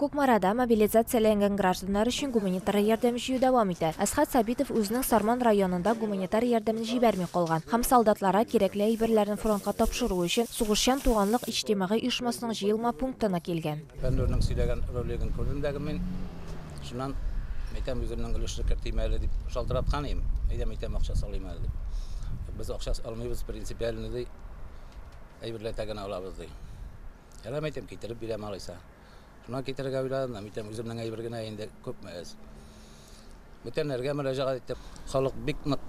Кукмарада мобилизацияләнгән гражданнар өчен гуманитар ярдәм җыю дәвам итә. Әсхәт Сабитов үзенең Сарман районында гуманитар ярдәмен җибәрми калган һәм солдатларга кирәкле әйберләрне фронтка тапшыру өчен Сугышчан туганлык иҗтимагый оешмасының җыелма пунктына килгән. Фәннүрнең сөйләгән ролигын күрдем дәге мин. Шуннан әйтәм, үземнең өлешне кертим әле дип шалтыраткан идем. Әйдәм, әйтәм, акча салыйм әле дип. Без акча алмыйбыз, принципиальный ди. Әйберләтә генә алабыз ди. Ярам әйтәм, китереп бирәм алайса. Шуннан китерергә уйладым, мин әйтәм, үземнең әйбер генә инде күпме әз. Бүтәннәргә мөрәҗәгать иттем. Халык бик нык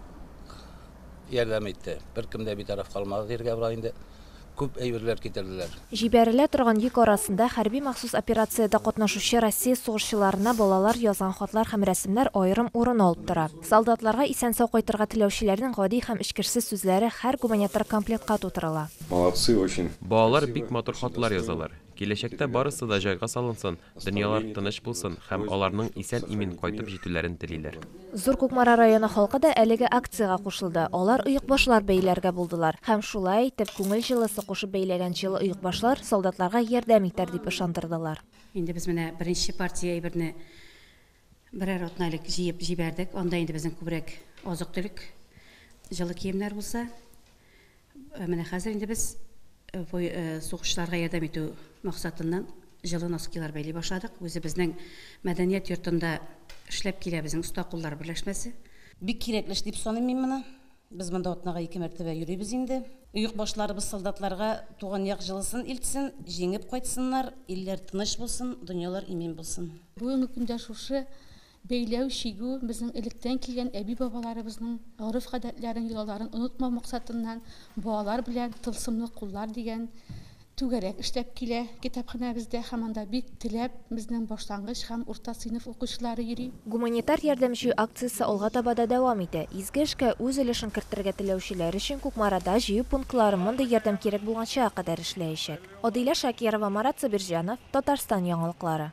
ярдәм итте. Беркем дә битараф калмады диергә була инде. Күп әйберләр китерделәр. Җибәрелә торган йөк арасында хәрби махсус операциядә катнашучы Россия сугышчыларына балалар язган хатлар һәм рәсемнәр аерым урын алып тора. Солдатларга исән-сау кайтырга теләүчеләрнең гади һәм эчкерсез сүзләре һәр гуманитар комплектка тутырыла. Молодцы очень! Балалар бик матур хатлар язалар. Киләчәктә барысы да җайга салынсын, дөньялар тыныч булсын һәм аларның исән-имин кайтып җитүләрен телиләр. Зур Кукмара районы халкы да әлеге акциягә кушылды. Алар оекбашлар бәйләргә булдылар һәм шулай итеп, күңел җылысы кушып бәйләгән җылы оекбашлар солдатларга ярдәм итәр дип ышандырдылар. Инде без менә беренче партия әйберне Берәр атна элек җыеп җибәрдек. Анда инде безнең күбрәк азык-төлек, җылы киемнәр булса. Ә менә хәзер инде без э, э, сугышчыларга ярдәм итү максатыннан җылы носкилар бәйли башладык. Үзебезнең мәдәният йортында эшләп килә безнең оста куллар берләшмәсе. Бик кирәкле эш дип саныйм мин моны. Без монда атнага ике мәртәбә йөрибез инде. Оекбашларыбыз солдатларга туган як җылысын илтсен, җиңеп кайтсыннар, илләр тыныч булсын, дөньялар имин булсын. Бүгенге көндә шушы бәйләү, чигү безнең электән килгән әби-бабаларыбызның гореф-гадәтләрен, йолаларын онытмау максатыннан балалар белән Тылсымлы куллар дигән Түгәрәк эшләп килә китапханәбездә һәм анда бик теләп безнең башлангыч һәм урта сыйныф укучылары йөри. Гуманитар ярдәм җыю акциясе алга таба да дәвам итә. Изге эшкә үз өлешен кертергә теләүчеләр өчен Кукмарада җыю пунктлары мондый ярдәм кирәк булган чага кадәр эшләячәк. Адилә Шакирова, Марат Сабирҗанов, Татарстан яңалыклары.